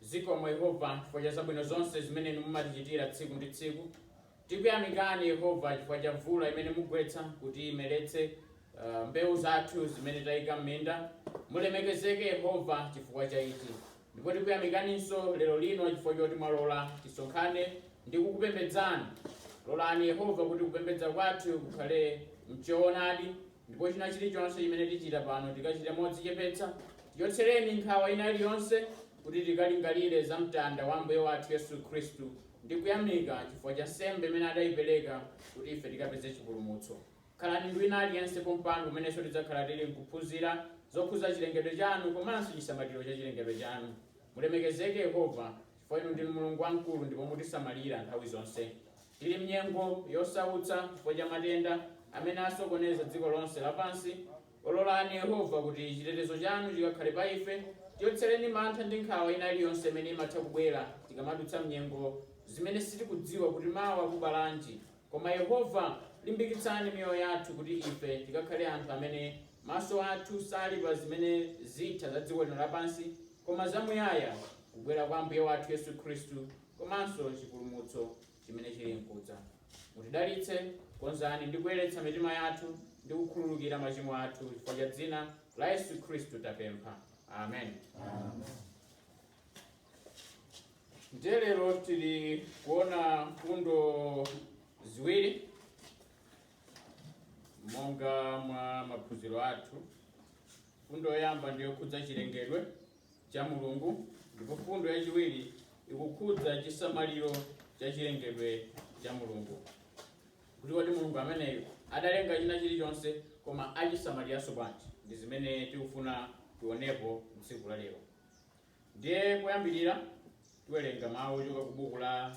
Zikomo Yehova chifukwa cha zabwino zonse zimene inu mumatichitira tsiku ndi tsiku. Tikuyamikani Yehova chifukwa cha mvula imene mugwetsa kuti imeretse uh, mbewu zathu zimene tayika m'minda. Mulemekezeke Yehova chifukwa cha ichi. Ndipo tikuyamikaninso lero lino chifukwa choti mwalola tisonkhane ndi kukupembedzani. Lolani Yehova kuti kupembedza kwathu kukhale mchoonadi Ndipo china chilichonse chimene tichita pano, tikachite modzichepetsa, tichotsereni nkhawa ina iliyonse, kuti tikalingalire za mtanda wa Ambuye wathu Yesu Khristu, ndi kuyamika chifukwa cha nsembe imene adaipereka kuti ife tikapeze chipulumutso. Khalani ndi wina aliyense pompano kumenenso tidzakhala tili nkuphunzira zokhudza chilengedwe chanu komanso chisamaliro cha chilengedwe chanu. Mulemekezeke Yehova, chifukwa inu ndinu Mulungu wamkulu ndipo mutisamalira nthawi zonse. Tili m'nyengo yosautsa chifukwa cha matenda amene asokoneza dziko lonse lapansi. Lolani, Yehova, kuti chitetezo chanu chikakhale pa ife. Tichotsereni mantha ndi nkhawa ina iliyonse imene imatha kubwera tikamadutsa m'nyengo zimene sitikudziwa kuti mawa kubalanji. Koma, Yehova, limbikitsani miyoyo yathu kuti ife tikakhale anthu amene maso athu sali pa zimene zitha za dziko lino lapansi, koma zamuyaya, Kubwera kwa Ambuye wathu Yesu Khristu. komanso chipulumutso chimene chili nkudza. Mutidalitse, konzani ndi kuyeretsa mitima yathu ndi kukhululukira machimo athu chifukwa cha dzina la Yesu Khristu tapempha. Amen. Ndiye lero tili kuona mfundo ziwiri monga mwa maphunziro athu. Mfundo yoyamba ndi yokhudza chilengedwe cha Mulungu, ndipo mfundo yachiwiri ikukhudza chisamaliro cha chilengedwe cha Mulungu, kuti kodi Mulungu ameneyo adalenga china chilichonse koma achisamaliranso bwanji? Ndi zimene tikufuna tionepo mtsiku la lero. Ndiye poyambirira tiwerenga mawu ochoka ku buku la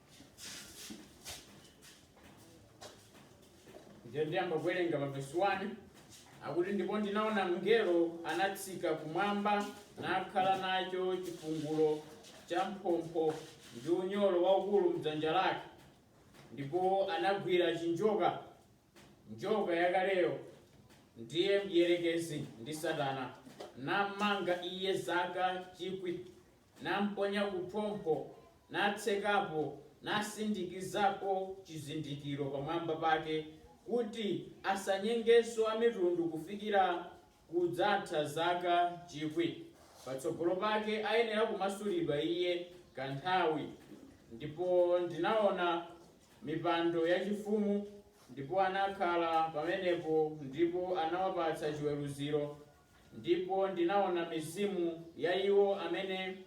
ndiye ndiyamba kuwerenga pa vesi 1 akuti ndipo ndinaona mngelo anatsika kumwamba nakhala nacho chifungulo cha mphompho ndi unyolo waukulu mdzanja lake ndipo anagwira chinjoka njoka yakaleyo ndiye mdierekezi ndi satana nammanga iye zaka chikwi namponya kuphompho, natsekapo, nasindikizapo chizindikiro pamwamba pake, kuti asanyengenso amitundu kufikira kudzatha zaka chikwi, patsogolo pake ayenera kumasulidwa iye kanthawi. Ndipo ndinaona mipando yachifumu, ndipo anakhala pamenepo, ndipo anawapatsa chiweruziro Ndipo ndinaona mizimu ya iwo amene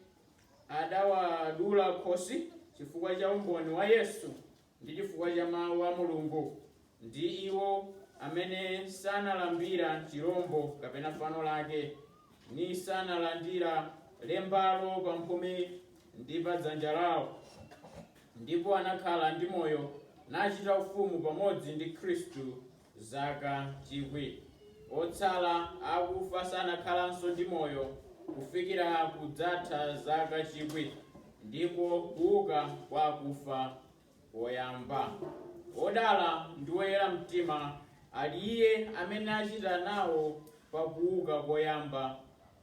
adawadula khosi chifukwa cha umboni wa Yesu, ndi chifukwa cha mawu a Mulungu, ndi iwo amene sanalambira chirombo kapena fano lake, nisanalandira lembalo pamphumi ndi pa dzanja lawo, ndipo anakhala ndi moyo, nachita ufumu pamodzi ndi Khristu Zaka chikwi, otsala akufa sanakhalanso ndi moyo kufikira kudzatha zaka chikwi ndiko kuuka kwa akufa koyamba. Wodala ndi woyera mtima ali iye amene achita nawo pa kuuka koyamba,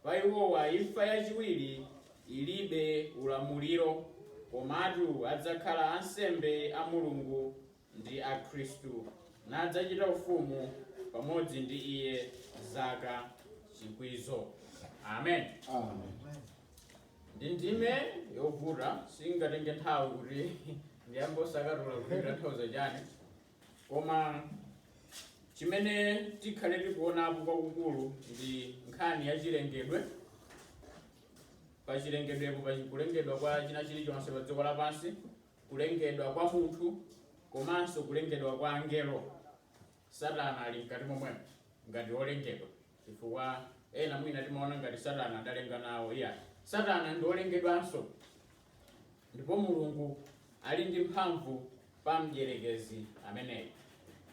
pa iwowa imfa yachiwiri ilibe ulamuliro, komatu adzakhala ansembe a Mulungu ndi a Khristu, nadzachita ufumu pamodzi ndi Iye zaka chikwizo. Amen. Ndi ndime yovuta ingatenge nthawi kuti ndiyambe kusakatula kuti ikutanthauza chani koma chimene tikhale tikuonapo kwakukulu ndi nkhani ya chilengedwe pa chilengedwepo pa kulengedwa kwa china chilichonse pa dziko lapansi kulengedwa kwa munthu komanso kulengedwa kwa angelo, Satana ali mkati momwemo ngati wolengedwa, chifukwa ena mwina timaona ngati Satana adalenga nawo. Iya, Satana ndi wolengedwanso, ndipo Mulungu ali ndi mphamvu pa mdierekezi ameneyo.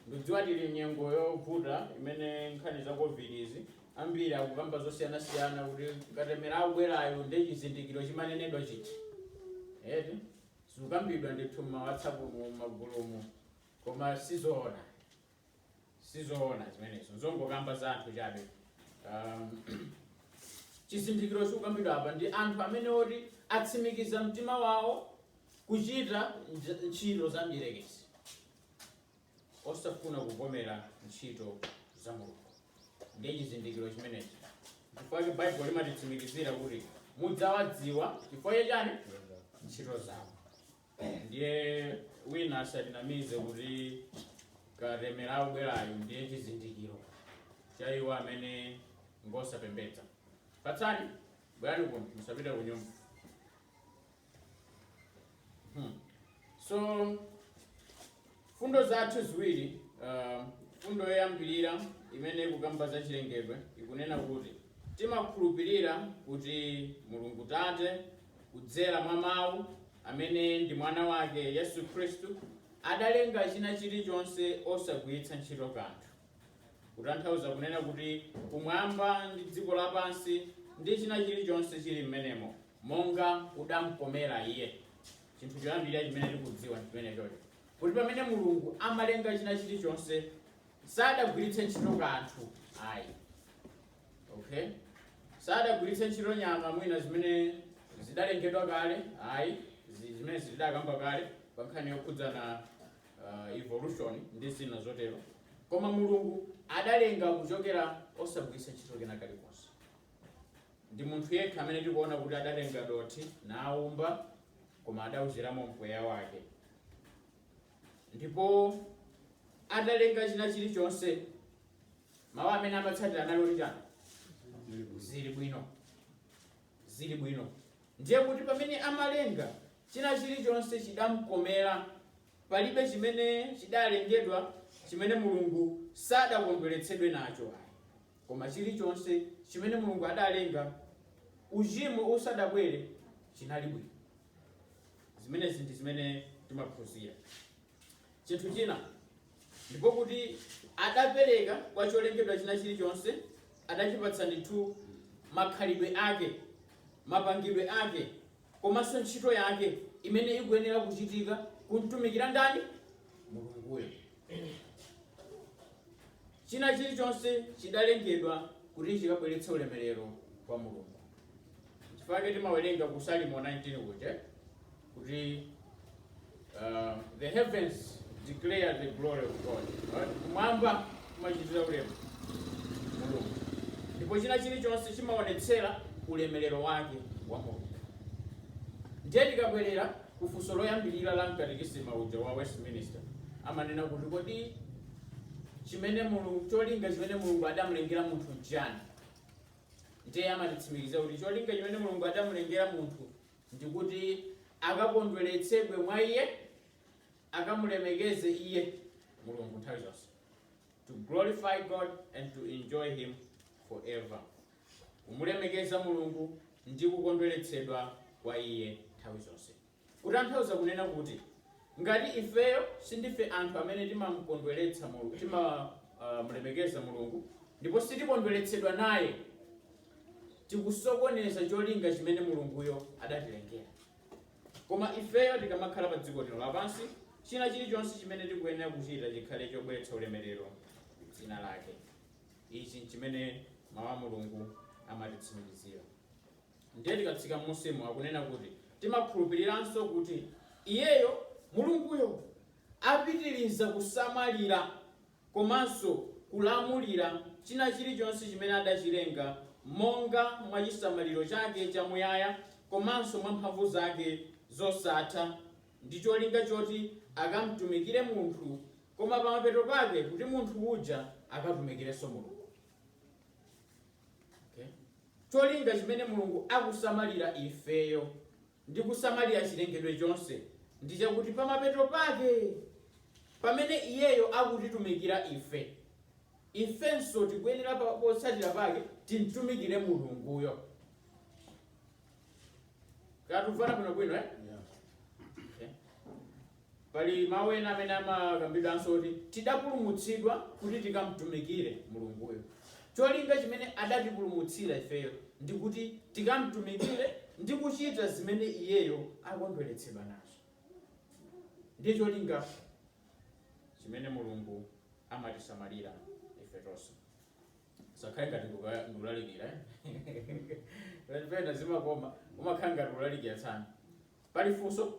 Ndidziwa tili m'nyengo yovuta imene nkhani za Covid izi ambiri akukamba zosiyanasiyana kuti katemera akubwerayo ndi chizindikiro chimanenedwa chija eti zikukambidwa ndithu m'mawhatsapp m'magulumu koma sizoona sizoona zimenezo zongokamba za anthu chabe um, chizindikiro chikukambidwa apa ndi anthu amene oti atsimikiza mtima wawo kuchita ntchito za mdierekezi osafuna kuvomera ntchito za mulungu ndiye chizindikiro chimenechi chifukwa chake baibulo limatitsimikizira kuti mudzawadziwa chifukwa chachani ntchito zawo ndiye wina asatinamize kuti katemera akubwerayo ndiye chizindikiro cha iwo amene ngosapembedza Fatsani bwerani kuno musapite kunyumba Hmm. so fundo zathu ziwiri uh, fundo yoyambirira imene ikukamba za chilengedwe ikunena kuti timakhulupirira kuti mulungu tate kudzera mwa mawu amene ndi mwana wake yesu khristu adalenga china chilichonse osagwiritsa ntchito kanthu kutanthauza kunena kuti kumwamba ndi dziko lapansi ndi china chilichonse chili mmenemo monga kudamkomera Iye. Chinthu choyambirira chimene tikudziwa ndi chimenechocho, kuti pamene Mulungu amalenga china chilichonse sadagwiritse ntchito kanthu ayi, okay, sadagwiritse ntchito nyama mwina zimene zidalengedwa kale ayi, zi- zimene zidakamba kale pa nkhani yokhudzana uh, evolution ndi zina zotero, koma Mulungu adalenga kuchokera osagwiritsa ntchito kena kalikonse. Ndi munthu yekha amene tikuona kuti adatenga dothi naumba koma adauziramo mpweya wake. Ndipo atalenga china chilichonse, mawu amene amatsatira anali oti chani? Zili bwino, zili bwino. Ndiye kuti pamene amalenga china chilichonse chidamkomera, palibe chimene chidalengedwa chimene Mulungu sadakondweretsedwe nacho. Koma chilichonse chimene Mulungu adalenga uchimo usadabwere chinali bwino. Zimenezi ndi zimene timaphunzira. Chinthu china ndipo kuti adapereka kwa cholengedwa china chilichonse adachipatsa ndithu makhalidwe ake, mapangidwe ake. komanso ntchito yake imene ikuyenera kuchitika kumtumikira ndani mulunguyo china chilichonse chidalengedwa kuti chikabweretse ulemerero kwa mulungu chifukwa timawerenga ku salimo 19 kuti kuti Uh, the heavens declare the glory of God. Kumwamba kumachitira ulemu Mulungu, ndipo china chilichonse chimaonetsera ulemerero wake wa Mulungu. Ndiye tikabwerera ku funso loyambirira la m'katekisima muja wa Westminster, amanena kuti kodi chimene Mulungu cholinga chimene Mulungu adamulengera munthu njani? Ndiye amatitsimikizira kuti cholinga chimene Mulungu adamulengera munthu ndi kuti akakondweretsedwe mwa Iye, akamulemekeze Iye, Mulungu, nthawi zonse, to glorify God and to enjoy Him forever, kumulemekeza Mulungu ndi kukondweretsedwa kwa Iye nthawi zonse. Kutanthauza kunena kuti ngati ifeyo sindife anthu amene timamkondweretsa Mulungu, timamulemekeza Mulungu ndipo sitikondweretsedwa naye, tikusokoneza cholinga chimene mulunguyo adatilengera koma ifeyo tikamakhala pa dziko lino lapansi china chilichonse chimene tikuyenera kuchita chikhale chobweretsa ulemerero ku dzina lake ichi nchimene mawu a mulungu amatitsimikizira ndiye tikatsika m'musimo akunena kuti timakhulupiriranso kuti iyeyo mulunguyo apitiriza kusamalira komanso kulamulira china chilichonse chimene adachilenga monga mwa chisamaliro chake chamuyaya komanso mwa mphamvu zake zosatha ndi cholinga choti akamtumikire munthu koma pamapeto pake kuti munthu uja akatumikirenso Mulungu. Okay? Cholinga chimene Mulungu akusamalira ifeyo ndi kusamalira chilengedwe chonse ndi chakuti pamapeto pake, pamene Iyeyo akutitumikira ife, ifenso tikuyenera pa, potsatira pake timtumikire Mulunguyo. Tikumvana bwino bwino, eh? Yeah. Okay. Pali mau ena amene amakambidwanso oti, tidapulumutsidwa kuti tikamtumikire Mulunguyo. Cholinga chimene adatipulumutsira ifeyo ndi kuti tikamtumikire ndi kuchita zimene Iyeyo akondweretsedwa nazo. Ndiye cholinga chimene Mulungu amatisamalira ife tonse. Zisakhale ngati ndikulalikira eh? Pena zimakoma umakhala ngati ulalikira tsano. Pali funso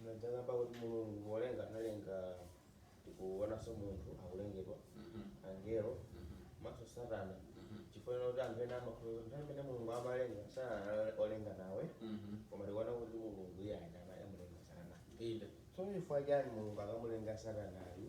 Munadzakamba kuti Mulungu polenga analenga tikuonanso munthu akulengedwa angelo komanso satana chifukwa china kuti anthu ena amakhulupirira kuti nthawi imene mulungu amalenga satana anali olenga nawe koma tikuona kuti mulungu iye anamulenga satana inde tsono chifukwa chani mulungu akamulenga satanayu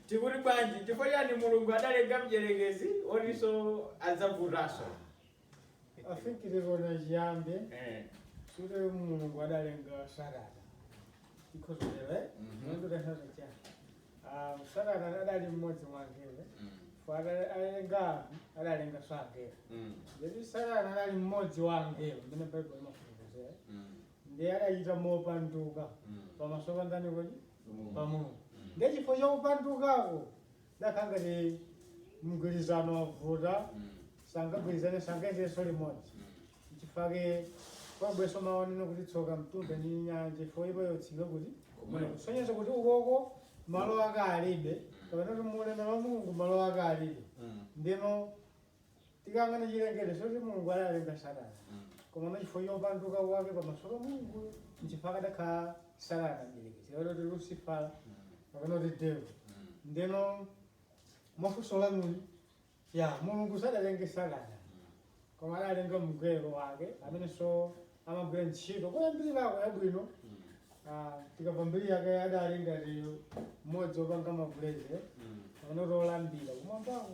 Tikuti bwanji? Chifukwa chiyani Mulungu adalenga mdyerekezi wotinso adzavutanso? I think tikuona chiyambi Eh. kuti Mulungu adalenga Satana. Because of the right? Mhm. Mulungu adalenga chiyani? Ah, Satana adali mmodzi wa angelo. Mm. For ada- adalenga anthu, adalenganso angelo. Mm. Ndiye Satana adali mmodzi wa angelo mmene Baibulo imafotokozera. Mm. Ndiye adachita mopanduka Mm. pamaso pa ndani kodi? pa mulungu ndiye chifukwa cha kupandukako nakhala ngati mgwirizano wavuta sangagwirizane sangayendenso limodzi chifukwa chake kwabweranso mau onena kuti tsoka mtunda ndi nyanja chifukwa ipo yotsika kuti Kumweko. kusonyeza kuti ukoko malo ake alibe kapena kuti mu ulemerero wa mulungu malo ake alibe ndino tikanena chilengedwe zoti mulungu adalenga satana koma chifukwa cha kupanduka kwake pamaso pa mulungu nchifukwa chake adakhala satana mdierekezi kapena kuti lucifer kapena kuti devil ndeno mwa funso lanuli eya mulungu sadalenge satana koma adalenga mngelo wake amenenso amagwira ntchito kuyambirako yabwino Ah, tikamva mbiri yake adalinso mmodzi opanga ma praise kapena kuti olambira kumwambako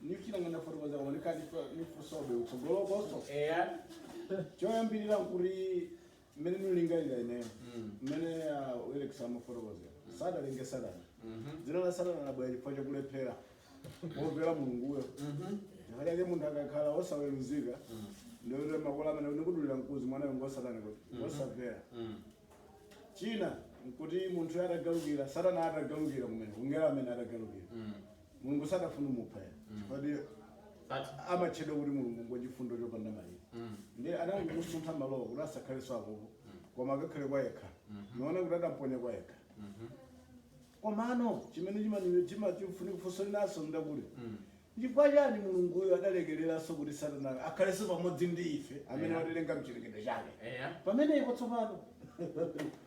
ndichina ndinganene fotokoza koma nikachitwa ndifunsabe kutsogolokonso eya choyambirira nkuti mmene ndikulingalira ineyo mmene uh, Felix amafotokozera sadalenge satana dzina la satana labwera chifukwa chakulephera kumvera mulunguyo chifukwa chake munthu akakhala osaweruzika ndikuti makolo amanena kuti mwanayo ngwa satana kuti ngosamvera china nkuti munthu atagalukira satana atagalukira kumene mngelo amene atagalukira mulungu sadafuna kumupha eya chifukwa ndi But amatchedwa kuti mulungu ngochifundo chopanda malire ndiye anangomusuntha malowa kuti asakhalenso apopo koma akakhale kwayekha naona kuti adamponya kwayekha komano chimene chimani- chima- chimfuni funso linanso ndakuti chifukwa chani mulunguyo adalekereranso kuti satana akhalenso pamodzi ndi ife amene Yeah. watilenga mchilengedwe chake eya pamene ipo tsopano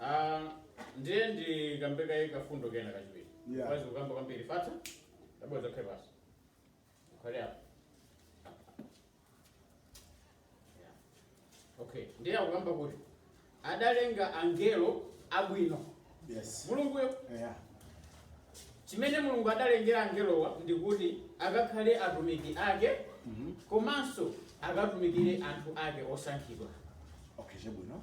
Ah, ndiye ndikambe kaye kafundo kena kachiwiri Yeah. mwati mukukamba kwambiri fata tabwera zokha basi ukhale apo Yeah. okay ndiye akukamba kuti adalenga angelo abwino Yes. mulunguyo Yeah. chimene mulungu adalengera angelowa ndi kuti akakhale atumiki ake komanso akatumikire anthu ake osankhidwa Okay, chabwino.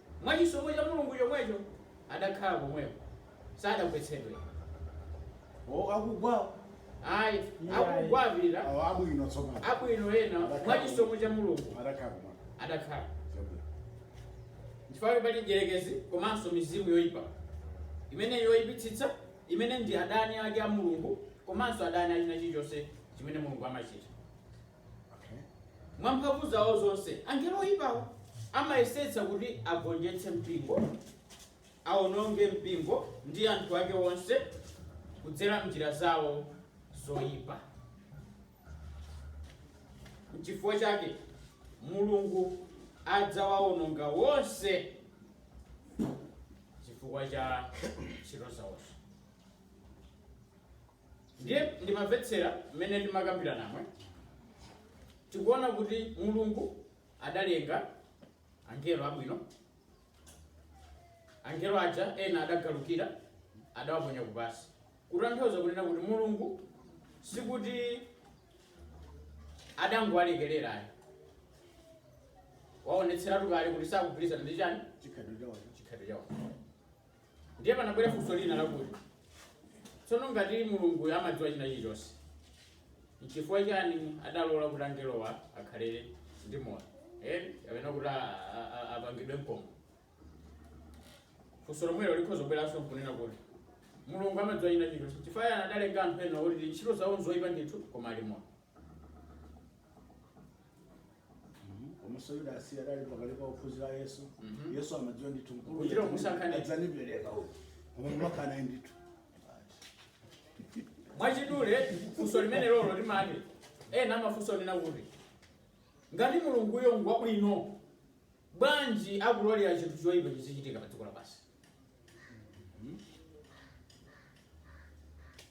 Mwa chisomo cha Mulungu chomwecho, adakhala komweko, sadagwetsedwe. O, akugwa! Ayi, akugwa apita. Awo abwino tsopano. Abwino ena, mwa chisomo cha Mulungu, Adakhala pomwepo. adakhala. Chabwino. Chifukwa kuti pali mdyerekezi komanso mizimu yoipa imene yoipitsitsa, imene ndi adani ake a Mulungu komanso adani a china chilichonse chimene Mulungu amachita. Mwa mphamvu zawo zonse, angelo oyipawo amayesetsa kuti agonjetse mpingo, awononge mpingo ndi anthu ake onse kudzera m'njira zawo zoyipa. N'chifukwa chake Mulungu adzawawononga onse chifukwa cha ntchito zawozo. ndiye ndimamvetsera mmene timakambirana mmwemo tikuona kuti mulungu adalenga angelo abwino angelo aja ena adagalukira adawaponya kupasi kutanthauza kunena kuti mulungu sikuti adangowalekerera ayi waonetseratu kale kuti sakugwirizana ndi chani chikhalidwe chawo Ndiye panabwera funso lina lakuti, Tsono ngati Mulunguyo amadziwa china chilichonse, n'chifukwa chiyani adalola kuti angelowa akhale ndi moyo, kapena kuti a- a- a- apangidwe mkombo? Funso lomwelo likhoza kubweranso n'kunena kuti, Mulungu amadziwa china chilichonse, chifukwa chiyani adalenga anthu ena oti ntchito zawo nzoipa ndithu koma ali moyo? komanso yudasi adali pakati pa ophunzira a yesu Mhm. yesu amadziwa ndithu mkulu Kuchita kusankha. adzandipereka uyu koma kumakhala ndithu mwachidule funso limene lolo limati ena amafunsa kunena kuti ngati mulunguyo ngwabwino bwanji akulolera chinthu choyipa chizichitika pa dziko lapansi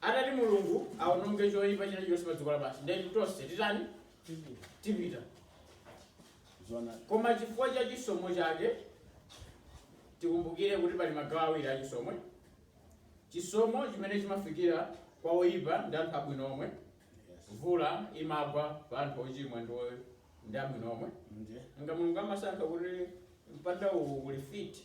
Atati Mulungu awononge choipa chilichonse pa dziko lapansi, ndiye kuti tonse titani? Tipita. Zona. Koma chifukwa cha chisomo chake, tikumbukire kuti pali magawo awiri a chisomo. Chisomo chimene chimafikira kwa oyipa ndi anthu abwino omwe. Yes. Mvula imagwa pa anthu ochimwa ndi o- ndi abwino omwe. Nje. Nga Mulungu amasankha kuti mpanda uwu uli mfiti,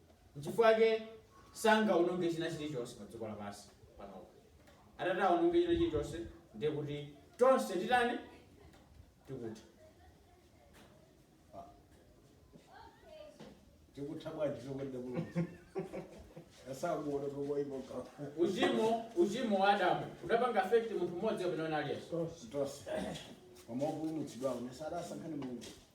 N'chifukwa chake sangawononge china chilichonse padziko lapansi panopa. Atati awononge china chilichonse, ndiye kuti tonse titani? Tikutha. Tikutha popanda chokonda Mulungu? Asakuona tokoipa ka. Uchimo, uchimo wa Adamu udapanga affect munthu mmodzi kapena wina aliyense. Tonse. Koma opulumutsidwawo adasankha ndi Mulungu.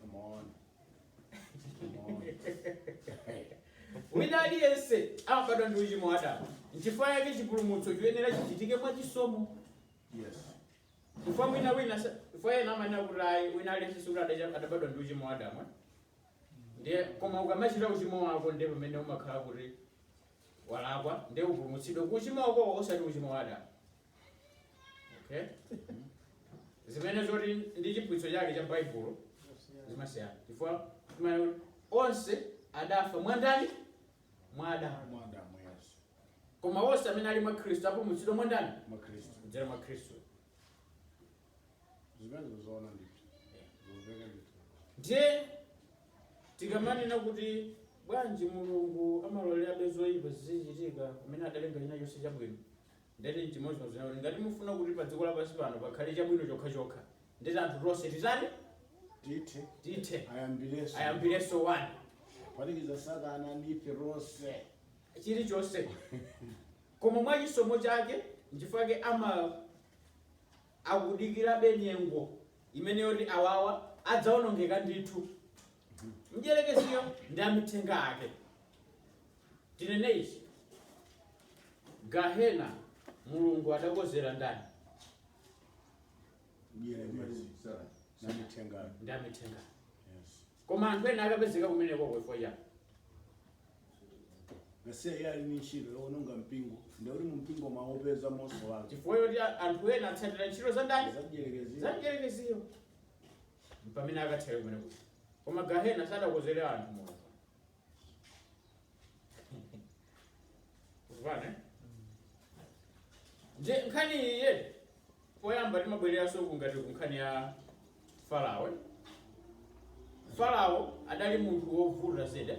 Come on. Come on. Hey. wina aliyense amabadwa ndi uchimo wa adamu nchifukwa yake chipulumutso chiyenera chichitike mwa chisomo Yes. chifukwa mwina wina sa- chifukwa ena amanena kuti ayi wina aliyense sikuti adacha- adabadwa ndi uchimo wa adamu eh? ndiye koma ukamachita uchimo wako ndiye pamene umakhala kuti walakwa ndiye upulumutsidwe ku uchimo wako osati uchimo wa adamu okay zimene zoti ndi chiphunzitso chake cha baibulo zimasiyana chifukwa timaona kuti onse adafa mwandani mwa adamu Mwa Adamu yes. koma onse amene ali mwa khristu apulumutsidwa mwandani Mwa Kristu. kudzera mwa khristu Zimene zoona ndithu. Zomveka ndithu. ndiye tikamanena kuti bwanji mulungu amalolerabe zoyipa zizichitika pomwe adalenga china chonse chabwino Ndeti n'chimodzimodzi kunena kuti ngati mufuna kuti padziko lapansi pano pakhale chabwino chokhachokha, ndeti anthu tonse titani? Tithe. Tithe. Ayambirenso. Ayambirenso 1. Kuphatikiza Satana ndi ife tonse. chilichonse koma mwa chisomo chake nchifukwa chake akudikirabe nyengo imene yoti awawa adzaonongeka ndithu mdyerekeziyo ndi amithenga ake tinene ichi Gahena Mulungu adakozera ndani? Ndi amithenga. Koma anthu ena akapezeka kumeneko chifukwa chani? Nasiya iye ali ndi ntchito yowononga mpingo ndikuti mu mpingo mwaupeza Chifukwa choti a- anthu ena atsatira ntchito za ndani? Za mdyerekezi. Za mdyerekeziyo. Mpamene akathera kumeneko. Koma Gahena sadakozere anthu Mulungu. Tikumvana, eh? Ndiye nkhani iyi poyamba timabwereranso ku ngati ku nkhani ya farao eh? farao adali munthu wovuta zedi eh?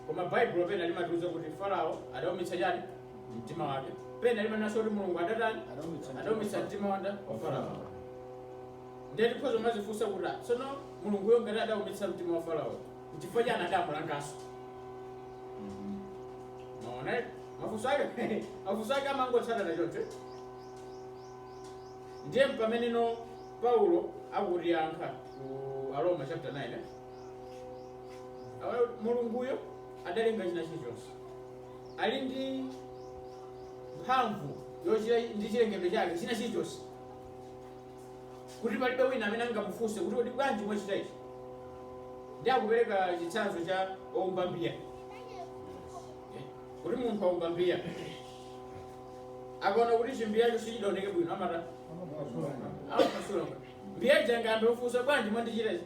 koma baibulo pena limatiuza kuti farao adaumitsa chani mtima wake pena limanenanso kuti mulungu adatani Adaumitsa mtima. adaumitsa mtima wa ndani? wa farao Ndiye tikhoza kumadzifunsa kuti, ah, tsono Mulunguyo ngati adaumitsa mtima wa Faraoyo, n'chifukwa chani adamulanganso? Mwaona eh? mafunso ake mafunso ake amangotsatana choncho. Ndiye mpameneno Paulo akutiyankha ku Aroma chapter 9 eh? Awa Mulunguyo adalenga china chilichonse ali ndi mphamvu yochita ndi chilengedwe chake china chilichonse kuti palibe wina amene angamufunse kuti kodi bwanji mwachita ichi ndiye akupereka chitsanzo cha oumba mbiya Eh, kuti munthu aumba mbiya akaona kuti chimbiyacho sichidaoneke bwino amatha amaphwasula mbiya ija singayambe kufunsa bwanji mwandichita ichi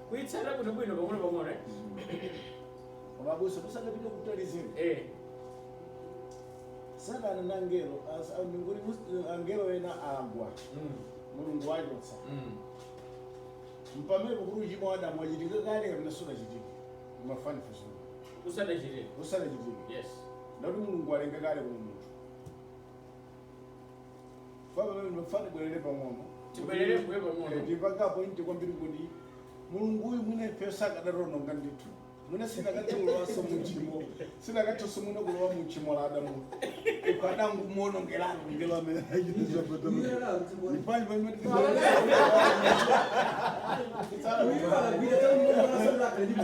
Kuitsata bwino bwino pang'ono pang'ono eh? Koma abusa musanapite kutali zina. Eh. Satana ndi angelo as- a- nguri mus- angelo ena agwa Mm. mulungu wachotsa Mm. mpamene kodi uchimo wa adamu wachitika kale kapena sunachitike mwamva funso Usadachitike. usanachitike Yes. ndeti mulungu walenga kale kuno munthu ufuna tibwerere pang'ono Tibwerere m'mbuyo pang'ono. Eh, timwakapo point kwambiri kuti mulungu uyu mwina ife akadaononga ndithu mwina sinakatha kulowanso muchimo sinakathanso mwina kulowa muchimo la adamu ife akadangomuonongeratu mngelo amene Ifanye pamene Uyu anagwira tauni mwana sasa akalibu.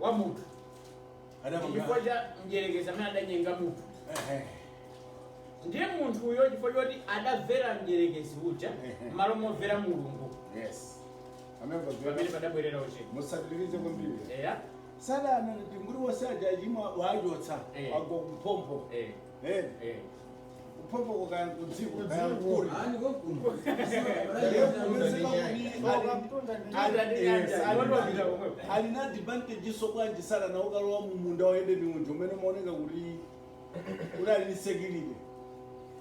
wa munthu adapanga chifukwa cha mdyerekezi amene adanyenga munthu ehe ndiye munthuyo chifukwa choti adamvera mdyerekezi uja Ehe. m'malo momvera mulungu yes pamene padabwerera uchimo musatirize kwambiri eya satana kuti muli wose ajajima wachotsa Eh. agwa kuphompho Eh. Eh, Eh. kuphompho kukaya kudziko kaya kuli. Ali konkuno. alinso ndi advantage bwanji satana ukalowa mumunda wa Edeni mujanso umene umaoneka kuti kuti ali ni security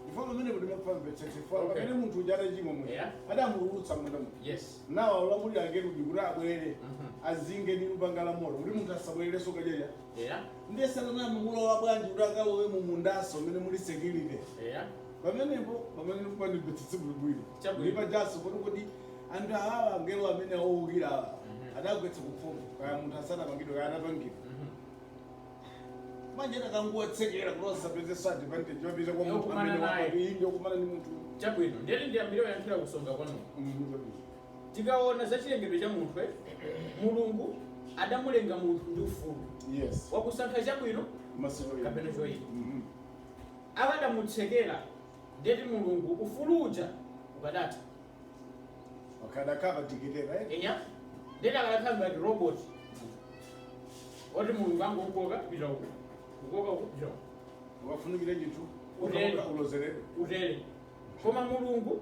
chifukwa pamene kuti mmamvetsetsa Okay. pamene munthu uja atachimwa muja Yeah. adamutulutsa mmunda muja Yes. nawalamulira akerubi kuti abwere Mhm. azinge ndi lupanga la moto kuti munthu asabwererenso kukadya Eya. Ndiye satana analowa bwanji kuti akalowe mu mundanso umene muli security? Eya. Pamenepo pamene ndifuna ndimvetsetse bwinobwino. Chabwino. Ndi pajanso poti kodi anthu awawa angelo amene owukira awa Mhm. adagwetsa ku phompho kaya munthu asanapangidwe kaya atapangidwa. Mhm. Manje akanangowatsekera kuti asapezenso advantage yopita kwa munthu Yokumana amene naye. wapatu iyi ndiyokumana ndi munthu. Chabwino. Ndiyeni ndiyambire kuyankhira kusonga kwanuko. Mhm, chabwino. Tikaona za chilengedwe cha munthu, Mulungu adamulenga munthu ndi ufulu yes. wakusankha chabwino kapena choipa. mm -hmm. Akadamutsekera ndiye kuti Mulungu ufulu uja ukadatha eya ndiye kuti akadakhala ngati robot oti Mulungu angokukoka pita uko kukoka uko pita uko ukafunikire ndithu utere koma Mulungu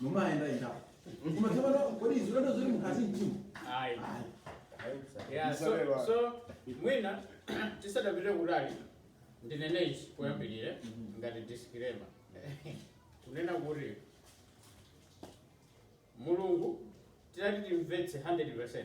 mumayenda ita koma tsopano kodi izi ulendo zoti mukati mtima Ayi. Ayi. Yeah, so, Isabella. so mwina tisadapite kutali ndinene ichi poyambirira ngati disclaimer kunena kuti mulungu titati timvetse 100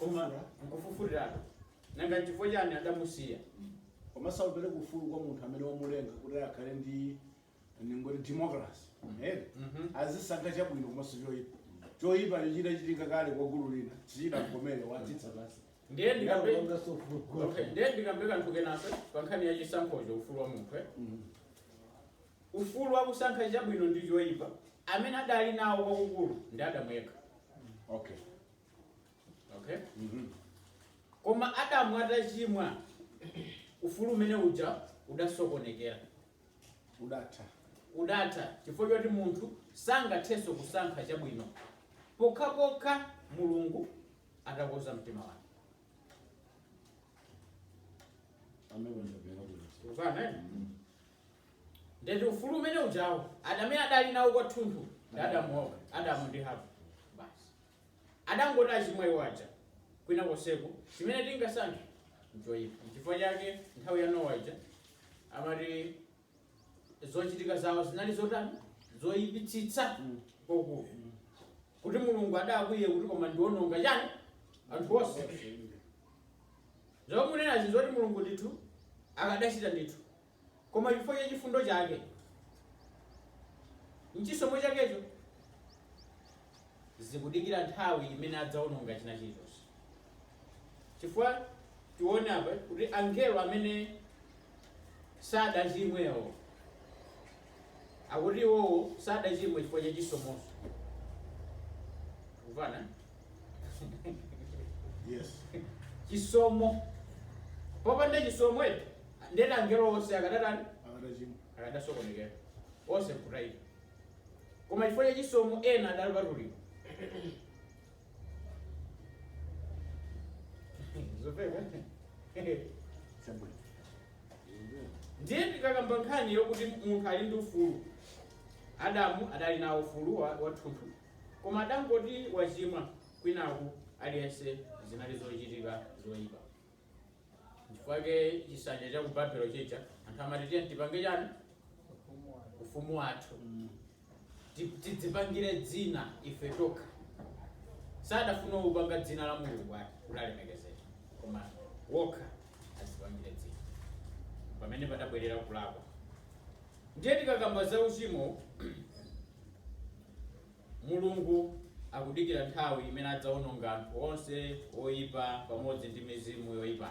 Koma nkumufufutiratu, nanga nchifukwa chani adamusiya? Komanso akupereka ufulu kwa munthu amene wamulenga kuti akhale ndi ndingoti democracy eti azisankha chabwino komanso choipa choipacho chitachitika kale kwa gulu lina sichidamkomere watsitsa pansi Ndiye Ndiye ndikambe akupanganso ufulu kwa Okay, munthu. ndiye ndikambe kanthu kenanso pa nkhani ya chisankhocho ufulu wa munthu eh? ufulu wa kusankha chabwino ndi choipa amene adali nawo kwakukulu ndi adamu yekha okay okay Mhm. koma adamu atachimwa ufulu umene uja udasokonekera udatha udatha chifukwa choti munthu sangathenso kusankha chabwino pokhapokha mulungu atakonza mtima wake amene ndabwera kuno kufana Ndiye kuti ufulu umene ujawo amene adali nawo kwathunthu ndi adamu ndi hava basi adangoti wachimwa iwo aja kwina konseku chimene tingasankhe nchoyipa chifukwa chake nthawi ya nowa ija amati zochitika zawo zinali zotani zoyipitsitsa kwakukulu kuti mulungu adakwiye kuti koma ndiononga chani anthu onse zomwe munenazi zoti mulungu ndithu akadachita ndithu Koma chifukwa cha chifundo chake n'chisomo chakecho, akudikira nthawi imene adzaononga china chilichonse. Chifukwa tione apa kuti angelo amene sadachimwewo. akuti iwowo sadachimwe chifukwa cha chisomonso kumvana Yes. chisomo popanda chisomo eti ndiye kuti angelo onse akadatani Akadachimwa. akadasokonekera onse kutaika koma chifukwa cha chisomo ena adali opatulika zopeka Chabwino. ndiye tikakamba nkhani yokuti munthu ali ndi ufulu adamu adali nawo ufulu wa- wathunthu koma adangoti wachimwa kwinaku aliyense zinali zochitika zoyipa nchifukwa chake chisanja cha ku babelo chija anthu amati tiye tipange chani ufumu wathu ti- tidzipangire dzina ife tokha sadafuna kupanga dzina la mulungu ati kuti alemekezeke koma okha adzipangire dzina pamene padabwerera kulakwa ndiye tikakamba za uchimo mulungu akudikira nthawi imene adzaononga anthu onse oyipa pamodzi ndi mizimu yoyipa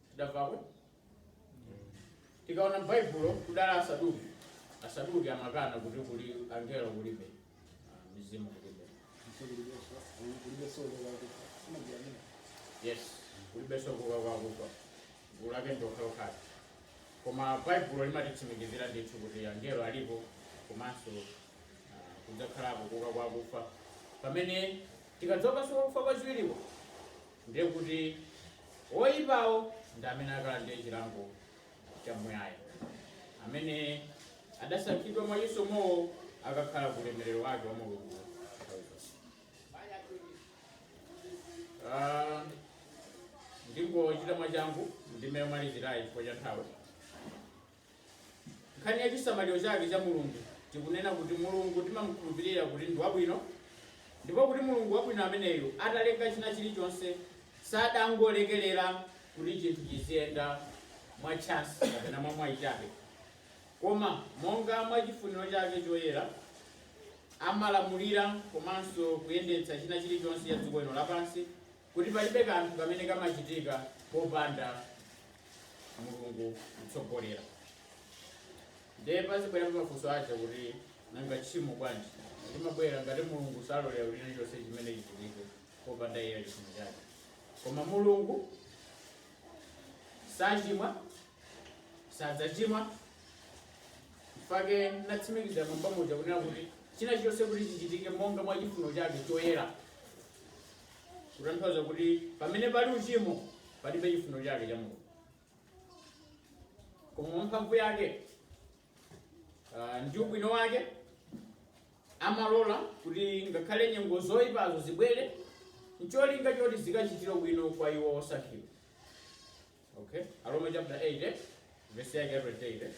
tidamvako tikaona m'baibulo kudali asaduki asaduki amakana kuti kuli angelo kulibe ah, mizimu kulibe yes kulibe nso kuuka kwa akufa gulu lake ndokhalokhala koma baibulo limatitsimikizira ndithu kuti angelo alipo komanso ah, kudzakhalapo kuuka kwa akufa pamene tikadzuka nso kufa kwachiwiriko Ndiye kuti oipawo ndi amene akalandire chilango chamuyaya. Amene adasankhidwa mwa chisomowo akakhala ku ulemerero wake wa Mulungu nthawi zonse. Ah, ndingochita mwachangu ndime yomalizirayi chifukwa cha nthawi. Nkhani ya chisamaliro chake cha Mulungu, tikunena kuti Mulungu timamukhulupirira kuti ndi wabwino, ndipo kuti Mulungu wabwino ameneyu atalenga china chilichonse sadangolekerera kuti chinthu chiziyenda mwa chance kapena mwa mwayi chabe, koma monga mwa chifuniro chake choyera amalamulira komanso kuyendetsa china chilichonse cha dziko lino lapansi. kuti palibe kanthu kamene kamachitika popanda Mulungu kutsogolera. Ndiye pazibwera mafunso aja kuti nanga tchimo bwanji limabwera ngati Mulungu salolera kuti chilichonse chimene chichitike popanda iye chifuno chake. Koma Mulungu sachimwa, sadzachimwa nchake natsimikiza mmbuyo muja kunena kuti china chilichonse kuti chichitike monga mwa chifuno chake choyera kutanthauza kuti pamene pali uchimo palibe chifuno chake cha mulungu koma mwa mphamvu yake ah, ndi ubwino wake amalola kuti ngakhale nyengo zoyipazo zibwere ncholinga choti zikachitire ubwino kwa iwo osankhidwa Okay. Aroma chapter 8 eh? verse yake ya 28 eh?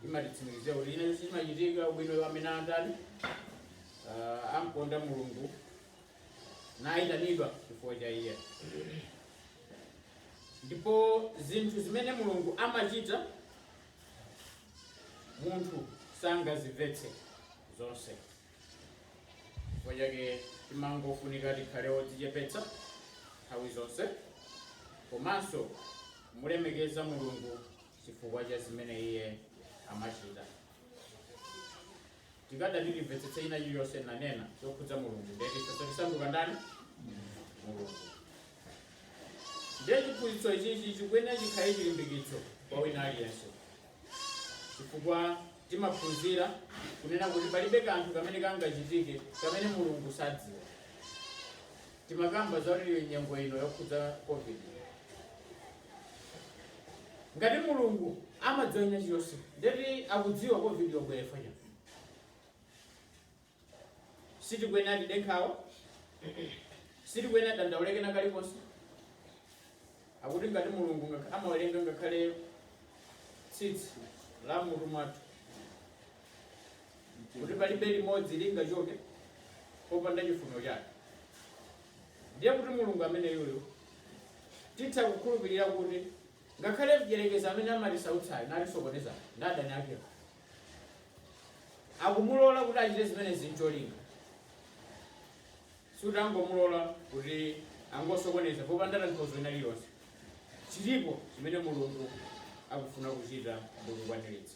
imatitsimikizira kuti zina zonse zimachitika ubwino wa amene andani uh, amkonda mulungu nayitanidwa chifukwa cha iye ndipo zinthu zimene mulungu amachita munthu sangazimvetse zonse chifukwa chake timangofunika tikhale odzichepetsa nthawi zonse komanso mulemekeza mulungu chifukwa cha zimene iye amachita tikadati timvetsetse china chilichonse nanena chokhudza mulungu ndeti tasanduka ndani mulungu ndiye chiphunzitso ichichi chikuyenera chikhale chilimbikitso kwa wina aliyense chifukwa timaphunzira kunena kuti palibe kanthu kamene kangachitike kamene mulungu sadziwa timakamba za kuti nyengo ino yokhudza covid ngati mulungu amadziwa china chilichonse ndeti akudziwa covid yabwerera chani Sitikuyenera tide nkhawa. Sitikuyenera tidandaule ndi kena kalikonse. Akuti ngati Mulungu ngakha- amawerenga ngakhale tsitsi la m'mutu mwathu kuti palibe limodzi lingachoke popanda chifuniro chake. Ndiye kuti Mulungu ameneyuyo titha kukhulupirira kuti ngakhale mdyerekezi amene amatisautsayo natisokoneza ndi adani akewo akumulola kuti achite zimenezi ncholinga suti angomulola kuti angosokoneza popanda tanthauzo lina lililonse chilipo chimene mulungu akufuna kuchita ndi kukwaniritsa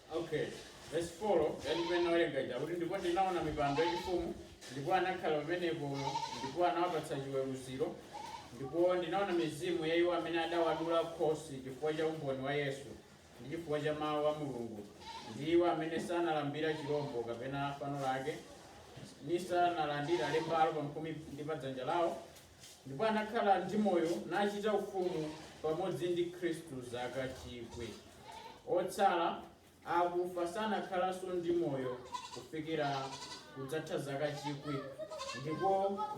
Okay. Verse 4 yati pamene nawerenga ija kuti ndipo ndinaona mipando yachifumu ndipo anakhala pamenepo ndipo anawapatsa chiweruziro ndipo ndinaona mizimu ya iwo amene adawadula khosi chifukwa cha umboni wa yesu ndi chifukwa cha mawu a mulungu ndi iwo amene sanalambira chirombo kapena fano lake nisanalandira lembalo pamphumi ndi padzanja lawo Ndipo anakhala ndi moyo, nachita ufumu pamodzi ndi Khristu zaka chikwi. Otsala a akufa sanakhalanso ndi moyo kufikira kudzatha zaka chikwi, ndiko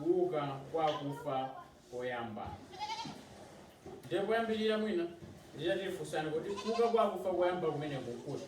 kuuka kwa akufa koyamba. Ndiye poyambirira mwina nditati funsani kuti kuuka kwa akufa koyamba kumeneku nkuti?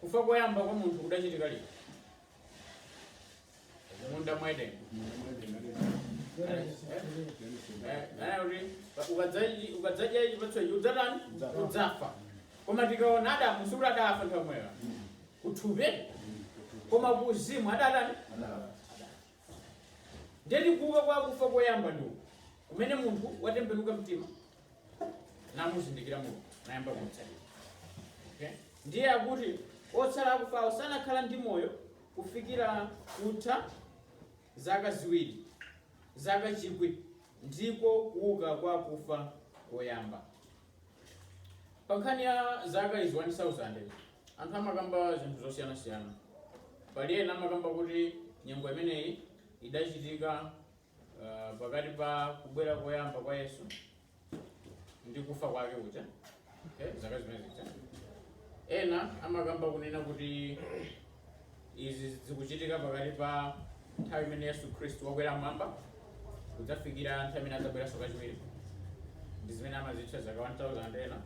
Kufa koyamba kwa munthu kudachitika liti? Mmunda mwa Edeni. ukadzadya chipatso ichi udzatani udzafa koma tikaona adamu sikuti adafa nthawi yomweyo kuthupi koma kuuzimu adatani ndeti kuuka kwa akufa koyamba ndiwo kumene munthu watembenuka mtima namuzindikira mulungu nayamba kumtsatira okay? ndiye akuti otsala akufawo sanakhala ndi moyo kufikira kutha zaka ziwiri zaka chikwi ndiko kuuka kwa akufa koyamba pa nkhani ya zaka izi 1000 anthu amakamba zinthu zosiyanasiyana pali ena amakamba kuti nyengo imeneyi idachitika Uh, pakati pa kubwera koyamba kwa Yesu ndi kufa kwake kuja okay, zaka zimene zija ena amakamba kunena kuti izi zikuchitika pakati pa nthawi imene Yesu Khristu wakwera mmwamba kudzafikira nthawi imene adzabweranso kachiwiri ndi zimene amazitcha zaka 1000 ena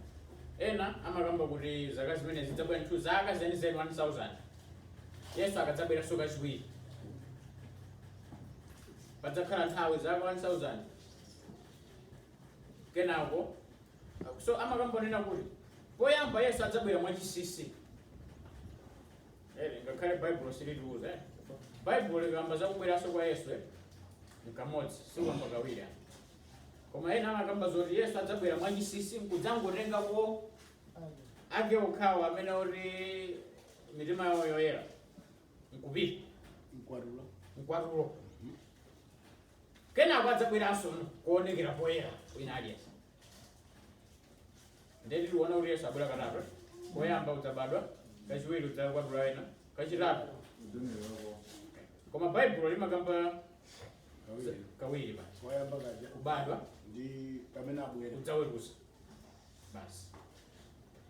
ena amakamba kuti zaka zimene zidzabwera ndithu zaka zenizeni 1000 Yesu akadzabweranso kachiwiri padzakhala nthawi zaka 1000 kenako so amakambanena kuti poyamba yesu adzabwera mwachinsinsi Eh, ngakhale baibulo silitiuza eh. baibulo likamba zakubweranso kwa yesu eh. nkamodzi sikamba kawiri ah. koma ena amakamba zoti yesu adzabwera mwachinsinsi nkudzangotengako ake okhawo amene oti mitima yawo yoyera nkupita mkwatulo mkwatulo kenako adzabweranso kuonekera poyera wina aliyense ndeti tiona kuti yesu abwera katatu koyamba kudzabadwa kachiwiri kudzakwatula ena kachitatu koma baibulo limakamba kawiri basi koyamba kaja kubadwa ndi pamene abwera kudzaweruza basi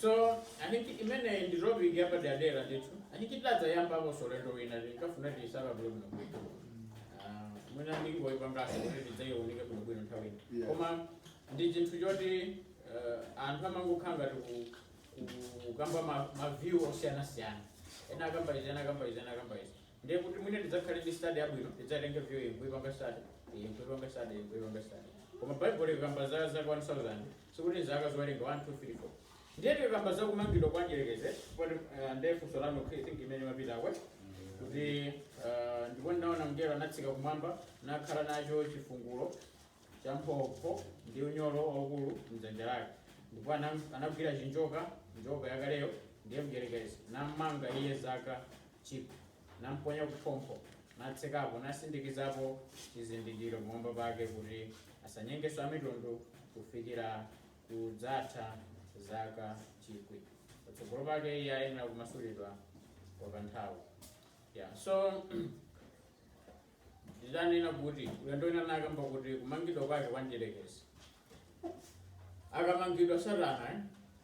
So, I think imeneyi ndi topic yapaderadera ndithu I think tidadzayambakonso ulendo wina tinkafuna tiyisanthule bwino bwino Ah, mwina ndingoyipangaso kuti tidzaiwunike bwino bwino nthawi ina Yeah. koma ndi chinthu choti eh, anthu amangokhala ngati ku- ku- kukamba ma- ma view osiyanasiyana ena akamba izi ena akamba izi ena akamba izi Ndiye kuti mwina tidzakhale ndi study yabwino, tidzatenge view iyi nkuipanga study, iyi nkuipanga study, iyi nkuipanga study. Koma Bible likakamba za zaka 1000, sikuti nzaka zowerenga 1 2 3 4. Ndiye tikakamba za kumangidwa kwa mdyerekezi, poti uh, ndiye funso lanu I think imene mapitako kuti uh, ndipo ndinaona mngelo anatsika kumwamba nakhala nacho chifungulo cha phompho ndi unyolo waukulu mdzanja lake ndipo anam- anagwira chinjoka njoka yakaleyo ndiye mdyerekezi namanga iye zaka chikwi, namponya kuphompho, natsekapo, nasindikizapo chizindikiro pamwamba pake kuti asanyengenso amitundu kufikira kudzatha zaka chikwi. Patsogolo pake iye ayenera kumasulidwa kwa kanthawi. Yeah, so ndidanena kuti ulendo wina nakamba kuti kumangidwa kwake kwa mdierekezi akamangidwa satana eh,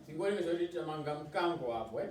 tingoyerekeza kuti tamanga mkango apo eh?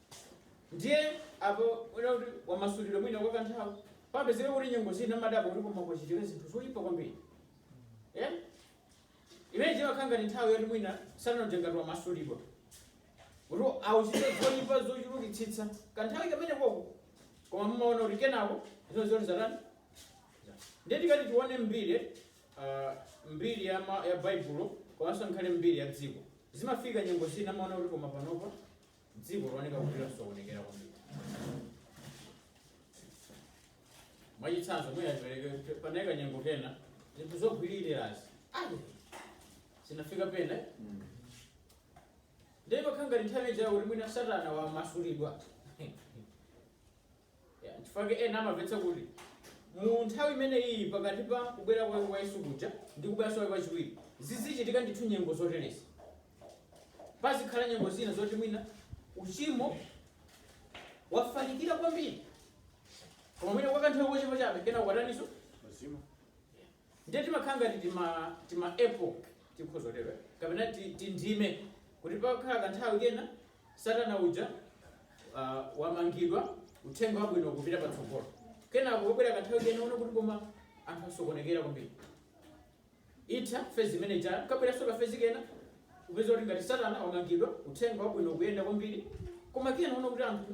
Ndiye apa mwina kuti wamasulidwa mwina kwa kanthawi papezeka kuti nyengo zina amadabwa kuti koma kwachitika zinthu zoyipa kwambiri Eh? imene chimakhala ngati nthawi yoti mwina satana ngati wamasulidwa kuti achite zoyipa zochulukitsitsa kanthawi kamene koko koma mumaona kuti kenako zino zoti zatani ndiye tikati tione mbiri ah, mbiri ya, ma, ya baibulo komanso nkhale mbiri ya dziko zimafika nyengo zina amaona kuti koma panopa dziko looneka kuti lasokonekera kwambiri mwachitsanzo mwina tipereke panali kanyengo kena zinthu zogwiririrazi zinafika pena ndiye pakhala ngati nthawi ijayo kuti mwina satana wamasulidwa Ya, chifukwa chake ena amamvetsa kuti mu nthawi imene iyi pakati pa kubwera kwake kwa yesu kuja ndi kubweranso kwake kwachiwiri zizichitika ndithu nyengo zoterezi pazikhala nyengo zina zoti mwina uchimo wafalikira kwambiri koma mwina kwa kanthawi kochepa chabe kenako wataninso Wazima. Ndiye timakhala ngati tima, tima epoch, tikhoza kutero, eh, kapena ti, tindime, kuti pakhala kanthawi kena Satana uja uh, wamangidwa, uthenga wabwino kupita patsogolo, kenako kubwera kanthawi kena muona kuti koma anthu asokonekera kwambiri, itha fezi imene ija kabweranso kafezi kena kupeza kuti ngati Satana wamangidwa, uthenga wabwino kuyenda kwambiri, koma kena muona kuti anthu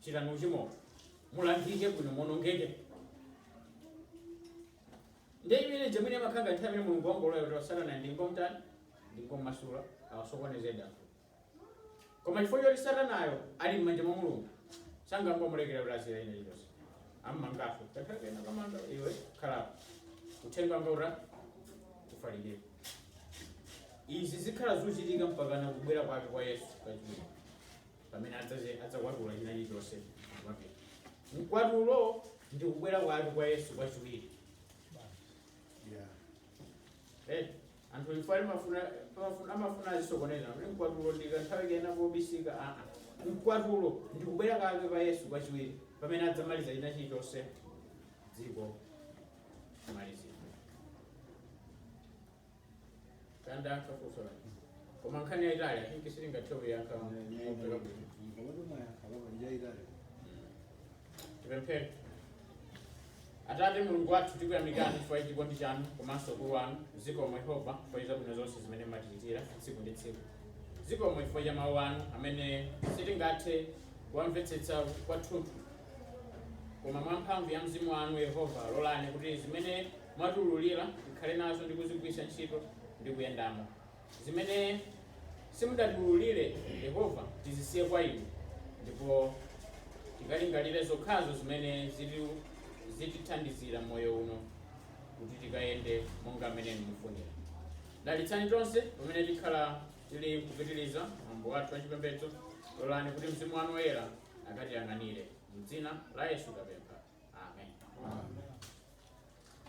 chitani uchimo mulangike bwino muonongeke ndiye imene ija imene imakhala ngati nthawi imene mulungu wangolola kuti satana ndingomtani ndingomasula awasokoneze anthu koma chifukwa choti satanayo ali m'manja mwa mulungu sangangomulekera kuti azichita china chilichonse ammanganso kanthawi kena kummanga iwe khalapo uthenga wanga uthe kufalikira izi zikhala zochitika mpakana kubwera kwake kwa yesu kachiwiri pamene adzaze adzakwatula china chilichonse mwakuti mkwatulo ndi kubwera kwake kwa yesu kwachiwiri Yeah. Eh, anthu ife amafuna amafuna- amafuna azisokoneza kuti mkwatulo ndi kanthawi kena kobisika aa mkwatulo ndi kubwera kwake kwa yesu kwachiwiri pamene adzamaliza china chilichonse dziko kumalizika kaya ndayankha funso lake koma nkhani yayitali i think sitingathe kuyankha mopeka bwino tipemphere atate mulungu wathu tikuyamikani chifukwa cha chikondi chanu komanso ukulu wanu zikomo yehova chifukwa cha zabwino zonse zimene mumatichitira tsiku ndi tsiku zikomo chifukwa cha mawu anu amene sitingathe kuwamvetsetsa kwathunthu koma mwa mphamvu ya mzimu wanu yehova lolani kuti zimene mwatiululira tikhale nazo ndi kuzigwiritsa ntchito ndi kuyendamo. Zimene simudatiululire, Yehova, tizisiye kwa inu, ndipo tikalingalire zokhazo zimene ziti- zitithandizira m'moyo uno kuti tikayende monga mmene inu mufunira. Dalitsani tonse pamene tikhala tili kupitiriza mwambo wathu wachipembedzo. Lolani kuti mzimu wanu woyera akatiyang'anire. M'dzina la Yesu tapempha. Amen.